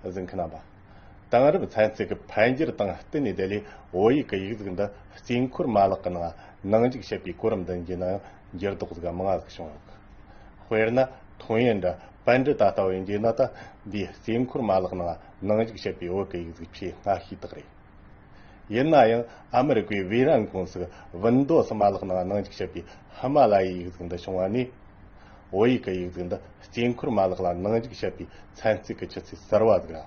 གཟིགས་མཁན་རྣམ་པ། དེང་རབས་ཚན་རྩལ་གྱི་འཕེལ་འགྱུར་དང་བསྟུན་ནས་བདེ་ལེགས་བོད་ཡིག་གི་ཡིག་གཟུགས་འདི་རྩིས་འཁོར་མ་ལག་གི་ནང་ནང་འཇུག་བྱེད་པའི་གོ་རིམ་འདི་འབྱིན་ནའང་འགྱུར་ལྡོག་ཟིག་མང་ཟིག་བྱུང་ཡོད། དཔེར་ན། ཐུང་ཡོན་འདྲ་པན་འདྲི་ད་ལྟ་བའི་འཇིགས་ན་ད་འདིའི་རྩིས་འཁོར་མ་ལག་ནང་ནང་འཇུག་བྱེད་པའི་བོད་ཀྱི་ཡིག་གཟུགས་ཆེས་སྔ་ཤོས་དག་རེད། ཡིན་ན་ཡང་ཨ་མི་རི་ཀའི་བྷི་རན་ཀུང་སིས་བིན་མདོ་སུ་མ་ལག་ནང་ནང་འཇུག་བྱེད་པའི་ཧི་མ་ལ་ཡའི་ཡིག་གཟུགས་འདི་བྱུང་བ་ནས། བོད་ཡིག་གི་ཡིག་གཟུགས་འདི་དཀྱིལ་འཁོར་མ་ལག་ལ་ནང་འཇུག་བྱེད་པའི་ཚན་རྩལ་གྱི་ཆུ་ཚད་གསར་བ་ཟིག་ལ།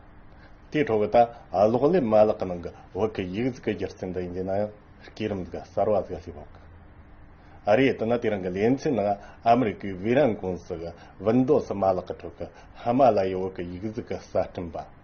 དེའི་འཕྲོ་བའི་ལྟ་ཀློག་ལེབ་མ་ལག་གི་ནང་གི་བོད་ཀྱི་ཡིག་གཟུགས་ཀྱི་སྒྱུ་རྩལ་འདི་ཡིན་རྒྱུ་ན་ཡང་སྐས་རིམ་ཟིག་གསར་བ་ཟིག་སླེབས་འོག་གི་རེད་དེ་ནི་དེ་རིང་གི་ལེ་ཚན་ནང་ཨ་མི་རི་ཀའི་བྷི་རན་ཀུང་སིས་བིན་མདོ་སུ་མ་ལག་གི་ཁྲོད་ཀྱི་ཧི་མ་ལ་ཡའི་བོད་ཀྱི་ཡིག་གཟུགས་གསར་སྐྲུན་པ།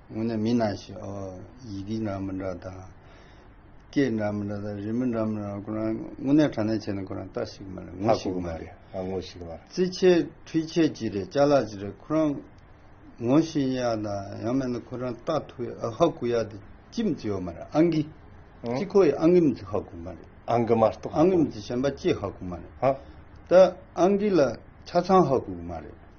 སྔོན་ནས་མི་སྣང་ཞིང། ཡི་གེ་འདྲ་མི་འདྲ་དང། སྐད་འདྲ་མི་འདྲ་དང་རིས་མི་འདྲ་མི་འདྲ་ཁོ་རང་དངོས་གནས་དྲ་གནས་བྱས་ན་ཁོ་རང་རྟགས་ཤིག་མ་རེད་ངོ་ཞིག་མ་རེད། ངོ་ཞིག་མ་རེད། རྩིས་ཆས་འཕྲུལ་ཆས་ཅི་རེད་བཅའ་ལག་ཅི་རེད་ཁོ་རང་ངོ་ཤེས་ཡ་དང་ཡང་མེད་ན་ཁོ་རང་རྟགས་ཐུག་ཡ་ཨ་ཧ་གུ་ཡ་དེ་ཅི་མི་ཚེ་ཡོད་མ་རེད་ཨ་འགི། ཅི་ཁོ་ཡི་ཨ་འགི་མི་ཚེ་ཧ་གོ་མ་རེད། ཨ་འགི་མ་གཏོགས་ཧ་གོ། ཨ་འགི་མི་ཚེ་གཞན་པ་ཅི་ཧ་གོ་མ་རེད། ད་ཨ་འགི་ལ་ཆ་ཚང་ཧ་གོ་གི་མ་རེད།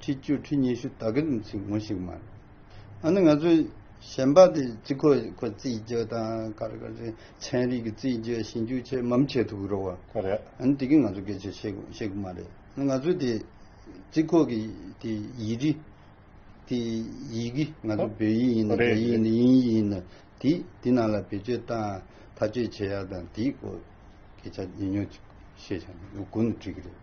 ཁྲི་བཅུ་ཁྲི་ཉི་ཤུ་དག་གི་ལུང་ཚིག་ངོ་ཞིག་མ་རེད། ཨ་ནི་ང་ཚོས་གཞན་པ་དེ་ཅི་ཁོ་ཁོ་རྩིས་བརྗོད་དང་ག་རེ་ག་རེ་ཚན་རིག་གི་རྩིས་བརྗོད་ཞིབ་འཇུག་ཆེད་མམ་བྱེད་ཐུབ་ཀྱི་རོགས་བ། ཨ་ནི་དེ་གིས་ང་ཚོ་སྐད་ཆ་བཤད་ཤེས་ཀྱི་མ་རེད། ཨ་ནི་ང་ཚོས་དེ་ཅི་ཁོ་གི་དེ་ཡི་རི་དེ་ཡི་གི་ང་ཚོ་བོད་ཡིག་ཡིན་ན་རྒྱ་ཡིག་ཡིན་ན་དབྱིན་ཡིག་ཡིན་ན་དེ་དེ་ནང་ལ་བེད་སྤྱོད་དང་ཐག་གཅོད་བྱེད་ཡག་དང་དེའི་སྐོར་སྐད་ཆ་ཉུང་ཉུང་ཅིག་བཤད་བྱ་ནི་ལུགས་དགུ་ནི་འགྲིག་གི་རེད།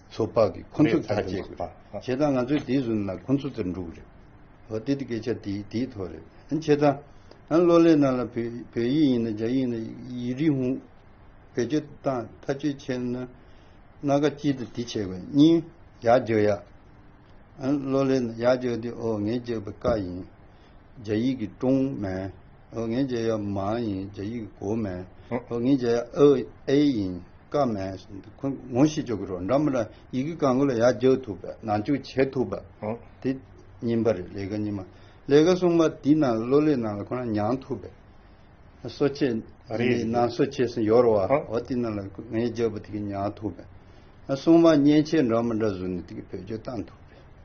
ཚོ་དཔག་གིས་ཁོ་ཚོ་དེར་འདུག་རེད། བྱས་ཙང་ང་ཚོའི་དེའི་ཟུར་ན་ཁོ་ཚོ་དེར་འདུག་རེད། འོ་དེ་དེ་སྐད་ཆ་དེའི་དེའི་ཐོག་རེད། བྱས་ཙང་ཨ་ལོ་ལེ་ནཱ་ལ་བོད་ཡིག་ཡིན་ན་རྒྱ་ཡིག་ཡིན་ན་ཡིག་རིགས་ཧུང། བེད་སྤྱོད་བཏང་མཐའ་སྤྱོད་བྱས་ན། སྣ་ཁ་སྐྱིད་དུ་དེ་བྱས་པའི་གཉིས། ཡག་བརྗོད་ཡ། ཨ་ལོ་ལེ་ནཱ་ཡག་བརྗོད་དེ་ཨོ་ངས་བརྗོད་པའི་ཀ་ཡིན། རྒྱ་ཡིག་གི་ཀྲུང་མན། ཨོ་ངེས་འཇལ་ཡོད་མ་ཡིན་འཇལ་ཡིག་གོ་མེད་ཨོ་ངེས་འཇལ་ཨེ་ཡིན་དཀའ་མེད་ཁོས་ངོ་ཤེས་ཆོག་གི་རོགས་འདྲ་མི་ལ་ཡི་གི་གང་གི་ལ་ཡ་རྒྱག་ཐུབ་པ་ནང་བཅུག་བྱེད་ཐུབ་པ་དེ་ཉིན་པ་རེད་ལས་ཀ་ཉིན་མ་ལས་ཀ་གསུངས་པ་དེ་ནང་ལ་ལོ་ལེགས་ནང་ལ་ཁོ་རང་མྱང་ཐུབ་པས་གསོ་ཆས་རེད་ནང་གསོ་ཆས་སུ་ཡོར་བ་ཨོ་དེ་ནང་ལ་ངེས་འཇལ་པོ་དེ་གི་མྱང་ཐུབ་པས་གསུངས་པ་མཉེན་ཆས་འདྲ་མི་འདྲ་བཟོས་ནས་དེ་གི་བེད་སྤྱོད་བཏང་ཐུབ་པས།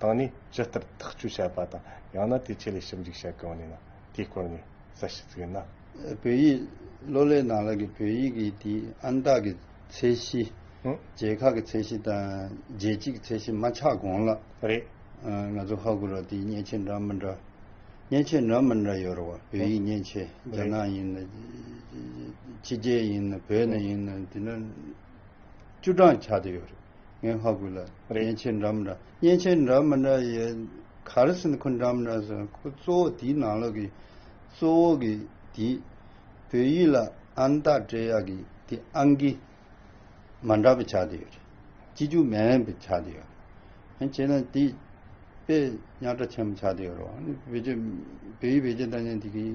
དང་ནི་ཇི་ལྟར་ཐག་གཅོད་བྱ་བ་དང་ཡང་ན་དེའི་ཆེད་ལས་ཞིབ་འཇུག་བྱེད་གང་ནུས་ན་དེའི་སྐོར་ངས་གསལ་བཤད་བརྩིས་ཡོད་ན། བོད་ཡིག་ཀློག་ཀླད་ནང་ལ་གི་བོད་ཡིག་གི་དེའི་ཨན་རྟགས་ཀྱི་ཚད་གཞི། རྒྱལ་ཁག་གི་ཚད་གཞི་དང་རྒྱལ་སྤྱི་གི་ཚད་གཞི་མ་ཆགས་གོང་ལ། རེད། ང་ཚོ་ཧ་གོ་རོགས་དེའི་མཉེན་ཆས་འདྲ་མི་འདྲ། མཉེན་ཆས་འདྲ་མི་འདྲ་ཡོད་རེད་བ། བོད་ཡིག་མཉེན་ཆས་རྒྱ་ནག་ཡིན། ཕྱི་རྒྱལ་ཡིན། བོད་ནས་ཡིན། དེ་འདྲ། བཅུ་གྲངས་ཆགས་ཏེ་ཡོད་རེད། ངའི་ཧ་གོ་ལ། མཉེན་ཆས་འདྲ་མི་འདྲ། མཉེན་ཆས་འདྲ་མི་འདྲ་ཡི། ག་རེ་ཟེར་ན་ཁོ་འདྲ་མི་འདྲ་ཟེར། ཁོ་གཙོ་བོ་དེའི་ནང་ལོགས་ཀྱི། གཙོ་བོ་གི་དེ། བོད་ཡིག་ལ་ཨན་རྟགས་སྤྲད་ཡག་གི་དེ་ཨང་ཀི། མ་འདྲ་བ་ཆགས་ཏེ་ཡོད་རེད། སྤྱི་རྒྱུགས་མ་ཡིན་པ་ཆགས་ཏེ་ཡོད་རེད། ཧན་བྱས་ན་དེ། པེ། ཉག་ཕྲ་ཆེན་པོ་ཆགས་ཏེ་ཡོད་རེད། བོད་ཡིག་བེད་སྤྱོད་འདྲ་མཉམ་དེ་གི།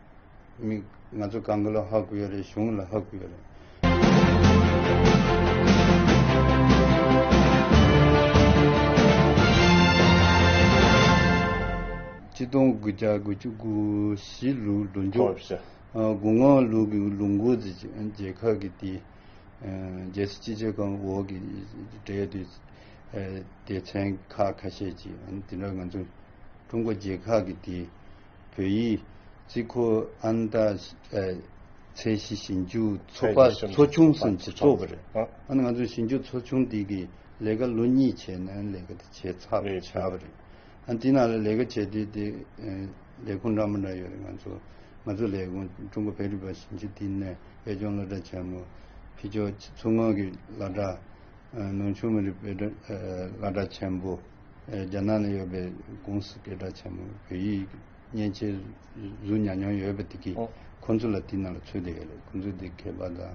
མིག། ང་ཚོ་གང་གི་ལ་ཧག་གི་ཡོད་རེད་གཞུང་གི་ལ་ཧག་གི་ཡོད་རེད། སྤྱི་སྟོང་དགུ་བརྒྱ་དགུ་བཅུ་དགུ་བཞི་ལུགས་ལོ་མཇུག་དགུང་ལྔ་ལུགས་ཀྱི་ལུགས་མགོ་རྩེ་རྗེ་ཁག་གི་དེ་རྗེ་སི་སྤྱི་བྱེ་ཁང་འོག་གི་འབྲེལ་ཡོད་སྡེ་ཚན་ཁག་ཁ་ཤས་ཀྱིས་འདི་འདྲ་ང་ཚོ་ཀྲུང་གོ་རྗེ་ཁག་གི་དེ། བོད་ཡིག། ཙི་ཁོ་ཨན་ཏཱ། ཚད་གཞི་ཞིབ་འཇུག་ཚོགས་པ་ཚོ་ཆུང་སམ་ཚོ་ཚོགས་པ་རེད། ཨ་ནི་ང་ཚོ་ཞིབ་འཇུག་ཚོ་ཆུང་འདི་གི་ལས་ཀ་ལོ་གཉིས་བྱས་ནས་ལས་ཀ་དེ་བྱས་ཚར་བ་བྱས་པ་རེད། ཨ་འདི་ནང་ལ་ལས་ཀ་བྱེད་དུས་དེ་ལས་ཁུངས་འདྲ་མོ་འདྲ་ཡོད་རེད་ང་ཚོ། ང་ཚོ་ལས་ཁུངས་ཀྲུང་གོ་བོད་རིག་པ་ཞིབ་འཇུག་ལྟེ་གནས་བོད་ལྗོངས་བློ་གྲྭ་ཆེན་མོ། ཕི་ཇོ། མཚོ་སྔོན་གྱི་བླ་གྲྭ། ནུང་ཆུང་མི་རིགས་བོད་བླ་གྲྭ་ཆེན་པོ། རྒྱ་ནག་ནས་ཡོད་པའི་ཀུང་སི་སྐད་གྲགས་ཆེན་མོ་བོད་ཡིག་མཉེན་ཆས་གཟུགས་ཉར་མྱོང་ཡོད་པ་དེ་གིས་ཁོ་ཚོ་ལ་དེའི་ནང་ལ་ཚོད་ལྟ་ཡོད་རེད་ཁོ་ཚོས་དེ་མཁས་པ་དང།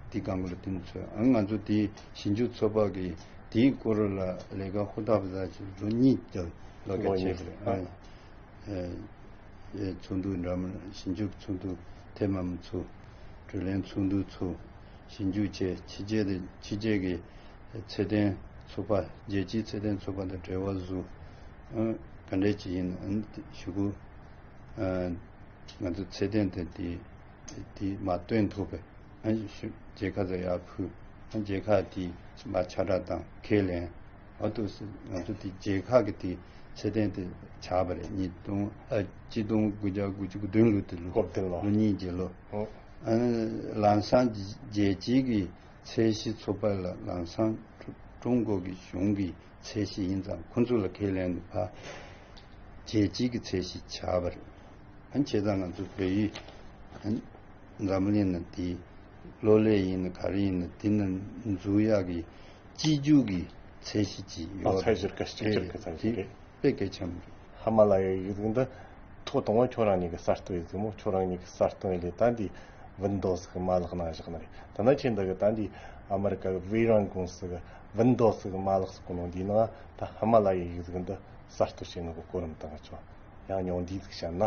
དེའི་སྒང་ཁུར་དེ་ནས་ཚོད་ཨང་ང་ཚོ་དེའི་ཞིབ་འཇུག་ཚོགས་པ་གིས་དེའི་སྐོར་ལ་ལས་ཀ་ཧུར་ཐག་བཟའ་ཆེད་ལོ་གཉིས་ལྟར་ལོ་བརྒྱ་བྱས་པ་རེད། ཚོགས་འདུ་འདྲ་མིན་ཞིབ་འཇུག་ཚོགས་འདུ་ཐེངས་མང་པོ་ཚུགས། དྲོད་ལེན་ཚོགས་འདུ་ཚུགས། ཞིབ་འཇུག་བཅས་ཕྱི་རྒྱལ་དུ་ཕྱི་རྒྱལ་གྱི་ཚད་ལྡན་ཚོགས་པ་རྒྱལ་སྤྱིའི་ཚད་ལྡན་ཚོགས་པ་དང་འབྲེལ་བ་བཟོས། ག་འདྲས་ཀྱི་ཡིན་ནའང་ཞུ་གི། ང་ཚོ་ཚད་ལྡན་དུ་དེ་མ་བཏོན་ཐུབ་པས་རྒྱལ་ཁ་ཚ་ཡག་ཕུལ། རྒྱལ་ཁ་དེ་མ་ཆ་སྒྲགས་དང་ཁས་ལེན། ཨ་ཏུ་སི་ང་ཚོ་དེ་རྒྱལ་ཁ་གི་དེ་ཚད་ལྡན་དུ་ཆགས་པ་རེད་གཉིས་སྟོང་གཅིག་སྟོང་དགུ་བརྒྱ་དགུ་བཅུ་དགུ་བདུན་ལོ་དེ་ལོ་གཉིས་རྗེས་ལོ། ལང་སང་རྒྱལ་སྤྱིའི་གི་ཚད་གཞི་ཚུགས་པ་ལ་ལང་སང་ཀྲུང་གོ་གི་གཞུང་གི་ཚད་གཞི་ཡིན་ཙང་ཁོ་ཚོ་ལ་ཁས་ལེན་དུ་ཕ་རྒྱལ་སྤྱིའི་གི་ཚད་གཞི་བྱ་བ་རེད། བྱས་ཙང་ང་ཚོ་བོད་ཡིག་འཛམ་གླིང་ན་དེ་ལོ་ལེགས་ཡིན་ན་ག་རེ་ཡིན་ན་དེ་ན་འཛུགས་ཡག་གི། སྤྱི་རྒྱུད་ཀྱི་ཚད་གཞི་གཅིག་ཡོད། ཚད་གཞིར་ག་གཅིག་གྱུར་གྱི་ཚད་གཞི་རེད། དཔེ་གལ་ཆེན་པོ་རེད། ཧ་མ་ལ་ཡའི་ཡུལ་འདི་ཐོག་དང་བོ་ཁྱོད་རང་གཉིས་ཀྱི་གསར་གཏོད་ཡིན་མོད་ཁྱོད་རང་གཉིས་ཀྱི་གསར་གཏོད་ལས་ད་འདི Windows གི་མ་ལག་ནང་བཞག་ན་རེད། དེ་ན་ཁྱེད་འདི་གི་ད་འདི་ཨ་མི་རི་ཀ་གི Veyron ཀུང་སི་གི Windows གི་མ་ལག་སོགས་ནང་འདིའི་ནང་ད་ཧ་མ་ལ་ཡའི་ཡུལ་འདི་གསར་གཏོད་བྱེད་ནུས་པ་གོ་རིམ་དང་གི་ཆོག་ཡང་ཉུང་འདིའི་ཚིག་བཤད་ན།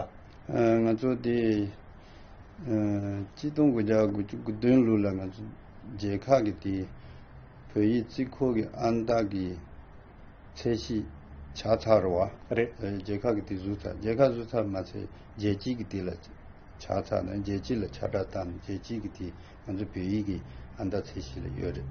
ང་ཚོ་དེ། སྤྱི་སྟོང་དགུ་བརྒྱ་དགུ་བཅུ་དགུ་བདུན་ལོ་ལ་ང་ཚོ་རྒྱལ་ཁག་གི་དེ་བོད་ཡིག་རྩིས་འཁོར་གྱི་ཨང་རྟགས་ཀྱི་ཚད་གཞི་བྱ་ཚར་བ་རེད། རྒྱལ་ཁག་གི་དེ་བཟོས་ཚར་རྒྱལ་ཁག་བཟོས་ཚར་མ་ཚད་རྒྱལ་སྤྱིའི་གི་དེ་ལ་བྱ་ཚར་ནས་རྒྱལ་སྤྱི་ལ་ཆ་སྒྲགས་བཏང་ནས་རྒྱལ་སྤྱིའི་གི་དེ་ང་ཚོ་བོད་ཡིག་གི་ཨང་རྟགས་ཚད་གཞི་ལ་ཡོད་རེད།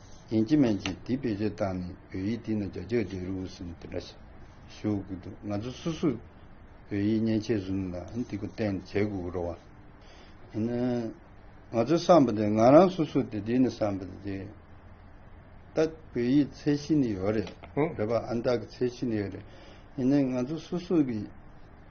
ཡན་ཅིན་མན་གྱིས་དེའི་བེད་སྤྱོད་བཏང་ནས་བོད་ཡིག་འདི་ན་རྒྱ་ཆོས་རྗེ་རི་བོ་ཟེར་ནས་དེ་འདྲ་ཞུ་གི་འདུག་ང་ཚོ་སུ་སུ་བོད་ཡིག་མཉེན་ཆས་ཟུར་ལ་འདི་ཀོ་བསྟན་ནས་བྱེད་དགོས་ཀྱི་རོ། ཡིན་ན་ང་ཚོའི་བསམ་པ་དེ་ང་རང་སུ་སུ་དེ་དེ་ནི་བསམ་པ་དེ་རེད། ད་བོད་ཡིག་ཚད་གཞི་ནི་ཡོད་རེད། རེད་པ་ཨ་མདའ་གི་ཚད་གཞི་ནི་ཡོད་རེད། ཡིན་ན་ང་ཚོ་སུ་སུ་གི།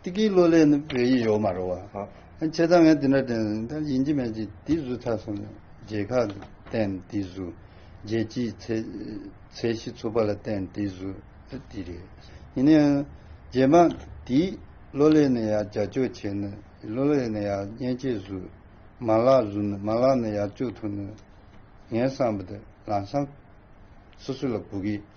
ཏི་ཀིའི་གླུ་ལེན་ནི་བོད་ཡིག་ཡོག་མ་རོ་བ། ཁྱེད་ཚང་ངས་འདི་འདྲ་དྲན་ཟིན་ད་ཡིན་གྱི་མེད་ཀྱི་དེའི་བཟོས་ཚར་སོང་ནས་རྗེས་ཁག་གི་བསྟན་དེའི་བཟོས། རྗེས་སྤྱིའི་ཚད་གཞི་ཚུགས་པ་ལ་བསྟན་དེའི་བཟོས་ཨ་དེ་རེད། ཡིན་ན་ཡང་རྗེས་མང་དེའི་གླུ་ལེན་ནི་ཡང་རྒྱ་ཆོས་བྱས་ནི་གླུ་ལེན་ནི་ཡང་སྨྱན་བྱེད་བཟོས། མ་ལག་བཟོས་ནི་མ་ལག་ནི་ཡང་སྤྱོད་ཐུབ་ནི། ངས་བསམ་པ་དེ་ལམ་སང་སོ་སོ་ལ་སྒུག་གི་ཡོད།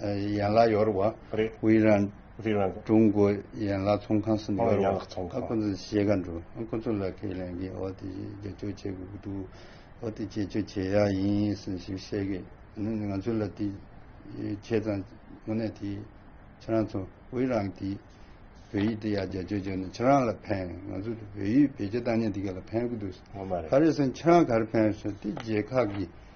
ཡན་ལག་ཡོར་བ། ཝི་རན། ཀྲུང་གོ་ཡན་ལག་ཚོང་ཁང་སུ་ཡོར་བ། ཁོ་ཚོ་ཤེས་ག་འདུག་ཨང་ཁོ་ཚོ་ལ་ཁས་ལེན་གི་འོ་དེ་རྗེས་ཕྱོགས་བྱེད་དགོས་ཀྱི་འདུག་འོ་དེ་རྗེས་ཕྱོགས་བྱེད་ཡག་ཡིན་ཟེར་ཞིག་བཤད་གི་ཨང་ང་ཚོ་ལ་དེ་ཁྱེད་ཚང་དངོས་གནས་དེ་ཁྱེད་རང་ཚོ་ཝི་རན་གི་བོད་ཡིག་དེ་ཡག་རྗེས་ཕྱོགས་བྱེད་ནས་ཁྱེད་རང་ལ་ཕན་ང་ཚོ་དེ་བོད་ཡིག་བེད་སྤྱོད་བཏང་ཉིན་དེ་ག་ལ་ཕན་གི་འདུག་ཨང་ཁ་རེ་ཟེར་ཁྱེད་རང་ག་རེ་ཕན་ཟེར་དེ་རྗེས་ཁག་གི་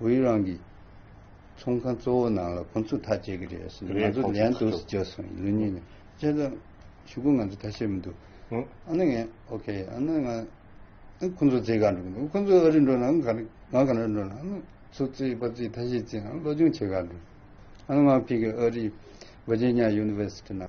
ཝུའུ་རང་གིས། ཚོང་ཁང་གཙོ་བོ་ནང་ལ་ཁོང་ཚོས་ཐག་བཅད་ཀྱི་རེད་ཟེར་ནས་ང་ཚོ་ལན་དུ་བརྗོད་སོང་ལུས་ཉེས་མེད་བཅས་ལ་ཞུ་སྐུལ་ང་ཚོས་ཐག་བཅད་མི་འདུག་ཨ་ནི་ངས་ཨོ་ཁེ་ཨ་ནི་ང་ཨ་ཁོང་ཚོ་རྫིས་ག་འགྲོ་གི་འདུག་ཁོང་ཚོ་ཨ་རི་འགྲོ་ནའང་ག་རེ་ང་ག་ནས་འགྲོ་ནའང་ཨ་ནི་ཚོ་རྩིས་པ་རྩིས་ཐ་ཤི་རྩིས་ཨ་ནི་སློབ་སྦྱོང་བྱེད་ག་འགྲོ་ཨ་ནི་ང་ཕིག་གི་ཨ་རིའི་ཝེར་ཇི་ནི་ཡཱ་ཡུ་ནི་ཝེར་སི་ཏི་ནང།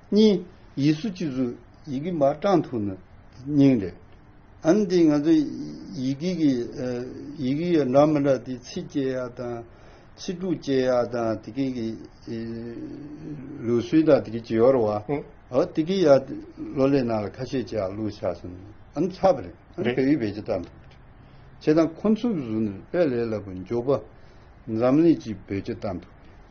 གཉིས། ཡིད་སུ་ཅི་བཟོ་ཡི་གེ་མ་བགྲང་ཐུག་ན་སྙིང་རེ། ཨན་འདི་ང་ཚོ་ཡི་གེ་གི་ཡི་གེ་ཡི་འདྲ་མི་འདྲ་དེ་ཚིག་སྐྱེལ་ཡག་དང་ཚིག་འབྲུ་སྐྱེལ་ཡག་དང་དེ་གི་གི་ལུགས་སྲོལ་དང་དེ་གི་ཇི་ཡོར་བ་ཨོ་དེ་གི་ཡ་ལོ་ལེ་ནང་ལ་ཁ་ཤས་ཅི་ཡག་ལུགས་ཆགས་སོང་ཨན་ཚ་བ་རེད་ཨན་བོད་ཡིག་བེད་སྤྱི་བཏང་ཐུག་བྱེད་དང་ཁོ་ཚུགས་བཟུང་ནས་དཔེ་ལས་སླ་པོ་འཇོག་པ་འཛམ་གླིང་སྤྱི་བེད་སྤྱི་བཏང་ཐུག།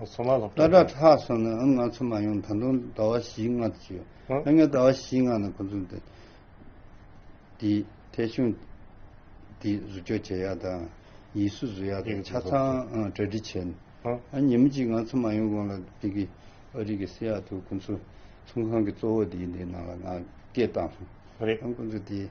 ལ་དྭགས་ལྷག་སོང་ནས་ང་ཚོ་མ་ཡོང་ད་དུང་ཟླ་བ་བཞི་ལྔ་དུ་བྱས་ཡོད་ཨ་ངས་ཟླ་བ་བཞི་ལྔ་ནང་ཁོ་ཚོ་འདི་འདི་ཐད་གཞུང་འདི་བཟོ་བཅོག་བྱེད་ཡག་དང་ཡིག་གཟུགས་བཟོ་ཡག་དང་ཆ་ཚང་གྲ་སྒྲིག་བྱས་ནས་ཨ་ཉིན་མོ་གཅིག་ང་ཚོ་མ་ཡོང་གོང་ལ་འདི་གི་ཨ་རིག་གི་སི་ཡ་ཐུ་ཁོ་ཚོ་ཚོང་ཁང་གི་གཙོ་བོ་འདིའི་འདི་ནང་ལ་ང་སྐད་བཏང་སོང་ཨ་ཁོ་ཚོ་འདི།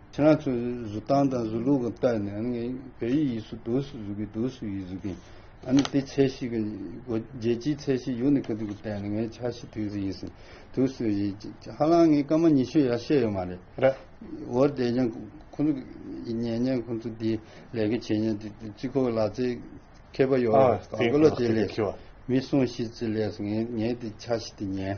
ཁྱེད་རང་ཚོས་བཟོ་སྟངས་དང་བཟོ་ལུགས་གང་ལྟར་ནས་ངས་བོད་ཡིག་ཡིག་སུ་དུག་སུ་བཟོ་གི་དུག་སུ་ཡིག་བཟོ་གི་ཨ་ནི་དེ་ཚད་གཞི་གི་སྒོ་རྒྱལ་སྤྱིའི་ཚད་གཞི་ཡུག་ནི་ག་དུག་གི་ལྟར་ནས་ངས་ཆ་ཤས་དུག་སུ་ཡིག་སུ་དུག་སུ་ཡིག་ཧ་ལང་ངས་སྐར་མ་ཉི་ཤུ་ཡར་བཤད་ཡོད་མ་རེད་འོར་བསྡད་ཀྱང་ཁོང་ཚོ་ཉན་ཉན་ཁོང་ཚོ་དེ་ལས་ཀ་བྱེད་ཉན་དེ་སྤྱི་ཁོག་ལག་རྩལ་མཁས་པ་ཡོག་ག་གོ་ལ་དེ་ལས་མི་སོང་ཤི་ཚེ་ལས་སོ་ངས་དེ་ཆ་ཤས་དེ་ཉན།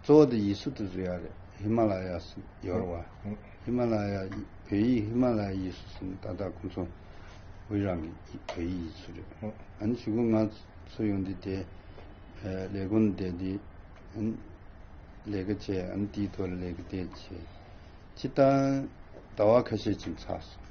གཙོ་བོ་དེ་ཡིས་སུ་དུ་ཟུ་ཡ་རེད་ཧི་མ་ལ་ཡ་སུ་ཡོར་བ་ཧི་མ་ལ་ཡ་བོད་ཡིག་ཧི་མ་ལ་ཡ་ཡིས་སུ་སུ་ད་ད་ཁོང་ཚོ་བོད་རང་གི་བོད་ཡིག་ཡིས་སུ་རེད་ཨ་ནི་ཞུ་གུ་ང་ཚོ་ཡོང་དེ་དེ་ལས་གོ་ནི་བསྡད་དེ་ཨ་ནི་ལས་ཀ་བྱས་ཨ་ནི་དེའི་ཐོག་ལས་ཀ་དེ་བྱས་ཕྱི་ད་ད་བ་ཁ་ཤས་ཕྱིན་ཚར་སོང།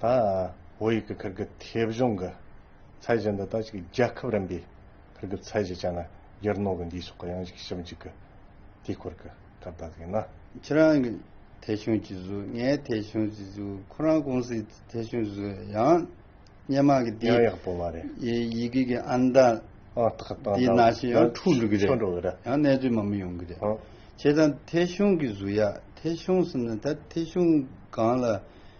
ད་བོད་ཡིག་གི་ཁུར་གི་ཐེ་བྱུང་གི་ཚད་གཞི་འདི་དག་ཅིག་རྒྱལ་ཁབ་རིམ་པའི་ཁུར་གི་ཚད་གཞི་བྱས་ན་ཡར་ནོར་གི་འདིའི་སོགས་གི་ཡང་ཞིག་ཞིབ་འཇུག་གི་དུས་སྐོར་གི་སྐབས་དག་ཡིན་ན། ཁྱེད་རང་གི་ཐེ་བྱུང་གི་གཟུགས་ངའི་ཐེ་བྱུང་གི་གཟུགས་ཁོ་རང་ཀུང་སིའི་ཐེ་བྱུང་གཟུགས་ཡང་སྙན་མང་གི་འདིའི་ཡང་ཡག་པོ་མ་རེད། ཡི་གེ་གི་ཨང་གྲངས་ཨང་རྟགས་དང་འདིའི་ནང་བཞིན་ཡང་འཁྲུག་འགྲོ་གི་རེད། འཁྲུག་འགྲོ་གི་རེད། ཡང་གནས་ཚུལ་མང་པོ་ཡོང་གི་རེད། ཁྱེད་རང་ཐེ་བྱུང་གི་གཟུགས་ཡག་ཐེ་བྱུང་ཟེར་ན་ད་ཐེ་བྱུང་གང་ལ།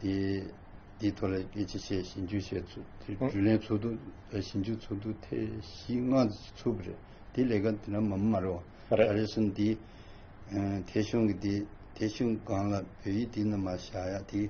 དེའི་ཐོག་ལ་སྐད་ཆ་བཤད་ཞིབ་འཇུག་བྱས་ཚུལ་དེ་ལན་ཚོགས་འདུ་ཞིབ་འཇུག་ཚོགས་འདུ་ཐེངས་བཞི་ལྔ་ཚུགས་པ་རེད་དེའི་ལས་ཀ་དེ་རྣམས་མ་རེད་བ། རེད་རེད་གསུངས་དེ་ཐེ་ཞུང་གི་དེ་ཐེ་ཞུང་སྒང་ལ་བོད་ཡིག་དེ་རྣམས་མ་བཞག་ཡག་དེ་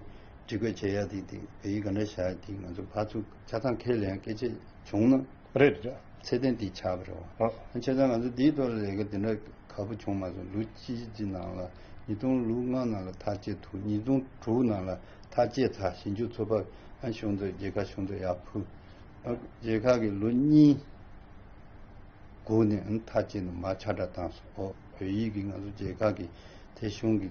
སྒྲིག་བཀོད་བྱས་ཡག་དེ་བོད་ཡིག་ག་འདྲ་བཞག་ཡག་དེ་ང་ཚོ་ཕར་ཚུར་ཆ་ཚང་ཁས་ལེན་སྐད་ཆ་བྱུང་ན་རེད་དེ། ཚད་ལྡན་དེ་ཆགས་པ་རེད་བ། ཨོ། ཁྱེད་ཚང་ང་ཚོ་འདིའི་ཐོག་རེ་འགའ་དེ་འདྲ་ག་པོ་བྱུང་མ་སོང་ལུག་གཅིག་གི་ནང་ལ་ཉིས་སྟོང་ལུག་ལྔ་ནང་ལ་ཐག་བཅད་ཐུག་ཉིས་སྟོང་དྲུག་ནང་ལ་ཐག་བཅད་ཚ་ཞིང་ཆུ་ཚོད་པ་ཨ་ཞུང་ཚོ་རྗེ་ཁ་ཞུང་ཚོ་ཡག་ཕུ། ཨོ། རྗེ་ཁ་གི་ལུག་གཉིས་སྒུག་ནས་ཨ་ཐག་བཅད་འདུག་མ་ཆ་འདྲ་བཏང་སོང་ཨོ། བོད་ཡིག་གི་ང་ཚོ་རྗེ་ཁ་གི་དེ་ཞུང་གི།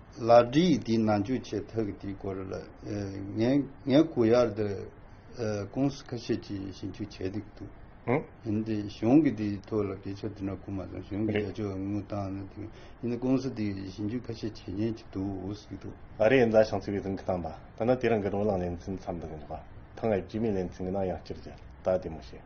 ལ་འདྲི་ཡིས་འདི་ནང་འཇུག་བྱེད་ཐག་གི་དེའི་སྐོར་ལ་ངས་ངའི་གོ་ཡར་དུ་ཀུང་སི་ཁ་ཤས་ཀྱིས་ཞིབ་འཇུག་བྱས་འདུག་འདུག་ཡིན་དེ་གཞུང་གིས་དེའི་ཐོག་ལ་སྐད་ཆ་དེ་འདྲ་གོ་མ་སོང་གཞུང་གིས་རྒྱ་ཕྱོགས་དངུལ་བཏང་ནས་དེ་ཡིན་དེ་ཀུང་སི་དེ་གིས་ཞིབ་འཇུག་ཁ་ཤས་བྱེད་ཉེན་གྱི་འདུག་ཨོ་སི་ཀི། ཨ་རིའི་མཛའ་ཞིང་ཚིག་པའི་གཟིམ་གྱི་གཏམ་པ་ད་ནི་དེ་རིང་གི་རོ་ལངས་ལན་ཚིག་མཚམས་འདི་གི་འདུག་ག་ཐང་ངས་བྱིས་མའི་ལན་ཚིག་གི་ནང་ཡང་སྤྱིར་རྒྱལ་དར་དེ་མོ་ཞེས།